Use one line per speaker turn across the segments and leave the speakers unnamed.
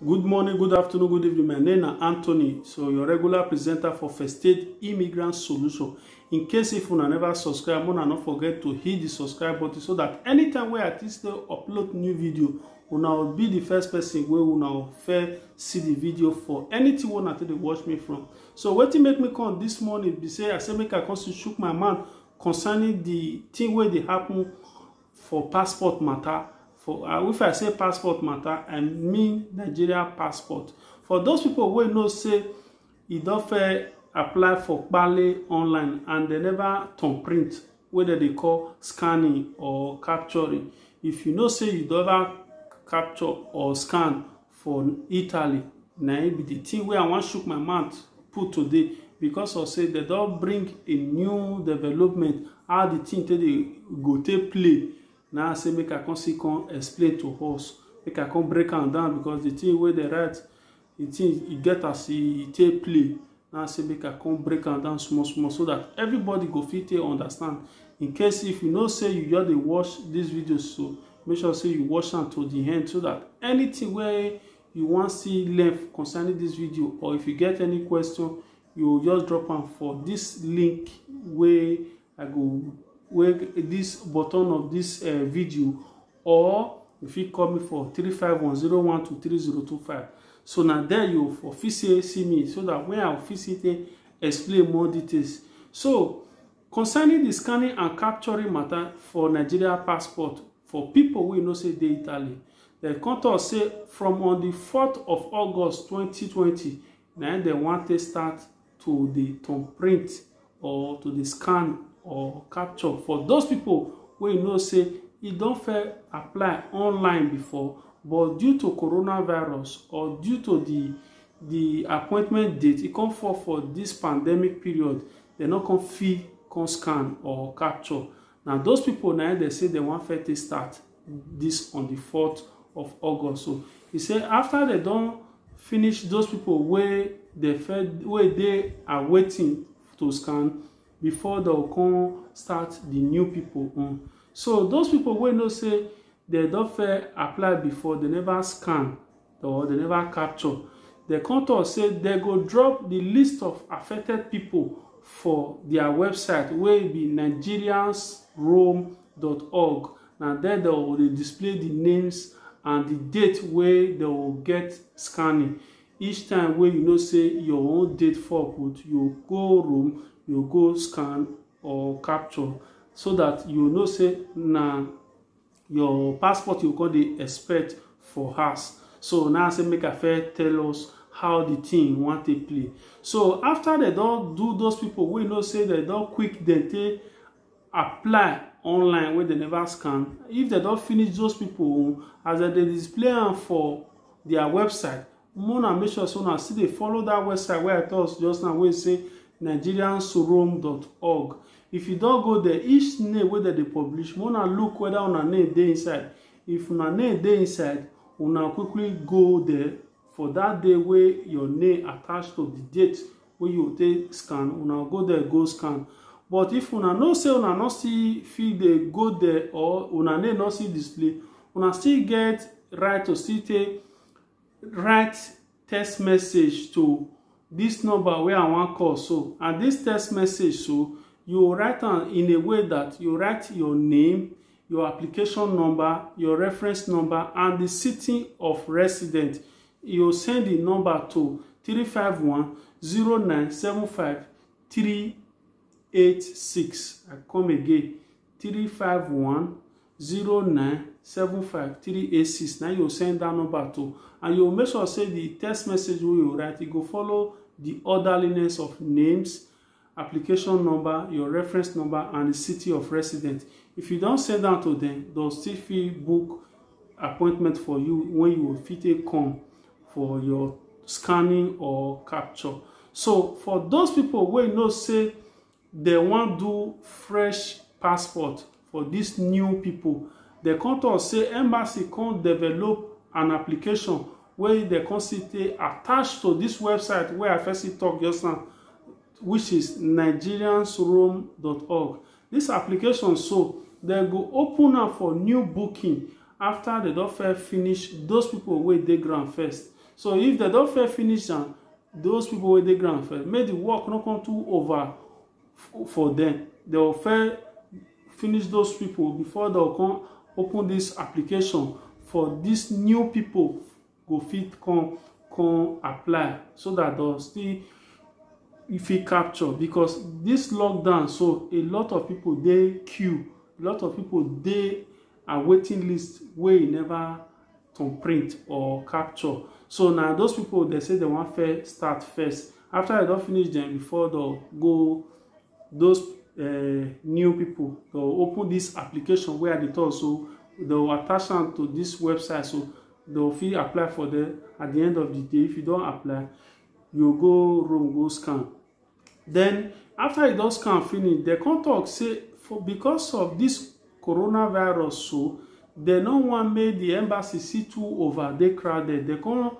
Good morning, good afternoon, good evening. My name na Anthony. So your regular presenter for First Aid Immigrant Solution. In case if una never subscribe, una no forget to hit the subscribe button so that anytime wey I take still upload new video, una will be the first person wey una will first see the video for anything wey una take dey watch me from. So wetin make me come this morning be say I say make I come still chook my mouth concerning the thing wey dey happen for passport matter for uh, if i say passport matter i mean nigeria passport for those people wey know say e don fair apply for pale online and they never turn print wey dem dey call scanning or capturing if you know say you don ever capture or scan for italy na im be the thing wey i wan shook my mouth put today because of say dem don bring a new development how the thing take dey go take play na i say make i come see come explain to us make i come break am down because the thing wey dem write the thing e get as e take play Now I say make I come break am down small small so that everybody go fit take understand. In case if you know say you just dey watch this video so make sure say you watch am to the end so that anything wey you wan see learn concerning this video or if you get any question you just drop am for this link wey I go wey this button of this uh, video or you fit call me for 351012325 so na there you for fit say see me so that when i fit see take explain more details so concerning the scanning and capturing matter for nigeria passport for people wey know say dey italy dem come talk say from on the 4th of august 2020 na im dem wan take start to dey turn print or to dey scan or capture for those people wey you know say e don fair apply online before but due to coronavirus or due to the the appointment date e come fall for this pandemic period dem no come fit come scan or capture na those people na im dem say dem wan fair take start this on the 4th of august so he say after they don finish those people wey dey fed wey dey are waiting to scan before they come start the new people own so those people wey know say they don fair apply before they never scan or dem never capture dem come talk say dem go drop the list of affected people for their website wey be nigeriansroam.org na there dem go dey display the names and the date wey dem go get scanning each time wey you know say your own date fall put you go room you go scan or capture so that you know say na your passport you go come dey expect for house so now i say make i first tell us how the thing wan take play so after dem don do those people wey know say dem don quick dem take apply online wey dem never scan if dem don finish those people own as dem dey display am for their website Omo una make sure say una still dey follow that website wey I talk just now wey say nigeriansorom.org. If you don go there, each name wey dem dey publish, make una look whether una name dey inside. If una name dey inside, una quickly go there for that day wey your name attach to the date wey you take scan, una go there go scan. But if una know say una no still fit dey go there or una name no still display, una still get right to still take write text message to this number wey i wan call so and this text message so you write am in a way that you write your name your application number your reference number and the city of resident you send the number to 351 0975 386 i come again three five one zero nine seven five three eight six na you send that number to and you make sure say the text message wey you write e go follow the orderliness of names application number your reference number and the city of residence if you don send am to them they'll still fit book appointment for you when you will fit take come for your scanning or capture so for those people wey know say dem wan do fresh passport for dis new pipo. Dem come tok say embassy come develop an application wey dem come see say attached to dis website wey I first see tok just now which is nigeriansrome.org. Dis application so, dem go open am for new booking afta dem don first finish those pipo wey dey ground first. so if dem don fair finish am those people wey dey ground fair make the work no come too over for them they will fair finish those people before they will come open this application for these new people go fit come come apply so that they'll still fit capture because this lockdown so a lot of people dey queue a lot of people dey a waiting list wey e never to print or capture so na those people dem say dem wan first start first after dem don finish dem before dem go those uh, new people dem open this application wey i dey talk so dem attach am to this website so dem fit apply for them at the end of the day if you don apply you go room go scan Then after e don scan finish, dem come talk say for because of this coronavirus so, dem no wan make the embassy see too over dey crowded. Dem come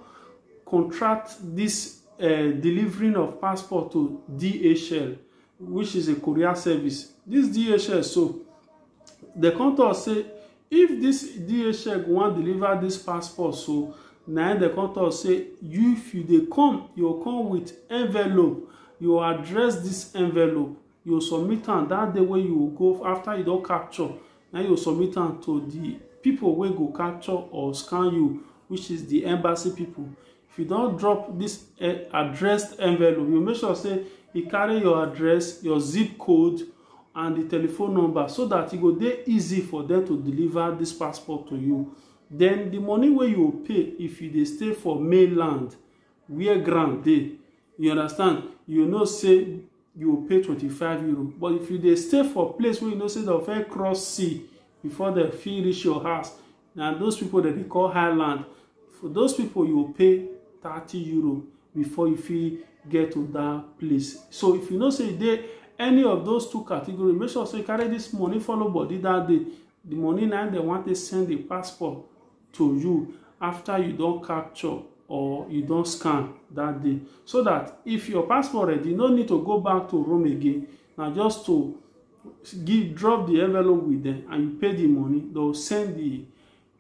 contract this uh, delivering of passport to DHL, which is a courier service. This DHL so, dem come talk say if this DHL go wan deliver this passport so na im dem come talk say you if you dey come you go come with envelope you go address this envelope you go submit am that day wey you go go after you don capture na you go submit am to the people wey go capture or scan you which is the embassy people if you don drop this eh, addressed envelope you make sure say e carry your address your zip code and the telephone number so that e go dey easy for them to deliver this passport to you then the money wey you pay if you dey stay for mainland where ground dey you understand you know say you pay twenty five euro but if you dey stay for place wey you know say dem fit cross sea before dem fit reach your house na those people dem dey call highland for those people you go pay thirty euro before you fit get to that place so if you know say you dey any of those two category make sure say you carry this money follow body that day the money na dem wan take send the passport to you after you don capture or you don scan that day so that if your passport ready you no need to go back to rome again na just to give drop the envelope with them and you pay the money they will send the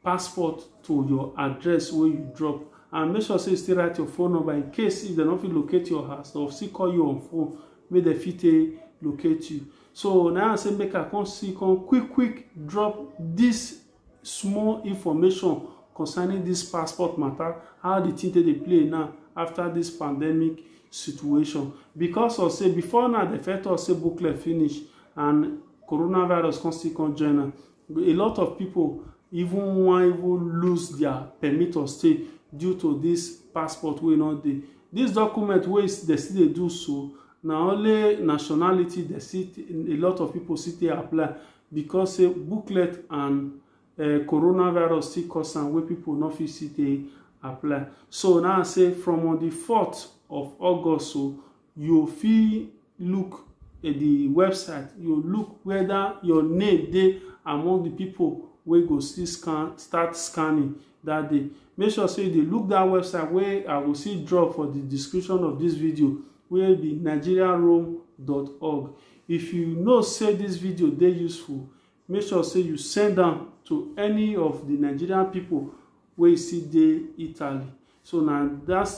passport to your address wey you drop and make sure say you still write your phone number in case if dem no fit locate your house dem still call you on phone make dem fit take locate you so now i say make i come see come quick quick drop this small information concerning this passport matter how the thing take dey play now after this pandemic situation because of say before now dem first talk say booklet finish and coronavirus come still come join am a lot of people even wan even lose their permit of stay due to this passport wey no dey this document wey dem still dey do so na only nationality dem still a lot of people still dey apply because say booklet and uh, coronavirus still cause am wey people no fit still dey apply so now i say from on the 4th of august so you fit look at the website you look whether your name dey among the people wey go still scan start scanning that day make sure say you dey look that website wey i go see drop for the description of this video wey be nigeriaroam.org If you know say this video dey useful, make sure say you send am to any of the Nigerian people wey you see dey Italy. So na that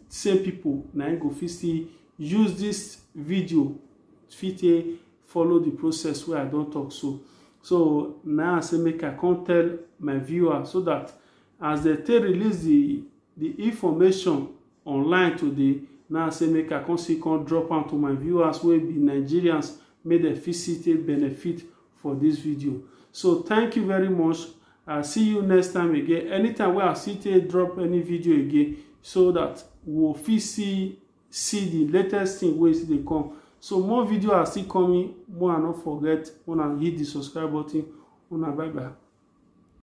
same people na im go fit still use this video fit take follow the process wey I don talk so. So na I say make I come tell my viewer so that as they take release the the information online today na say make i come see come drop am to my viewers wey be nigerians make dem fit see take benefit for this video so thank you very much i see you next time again anytime wey i see take drop any video again so that we go fit see see the latest thing wey still dey come so more video are still coming more i no forget una hit the subscribe button una bye bye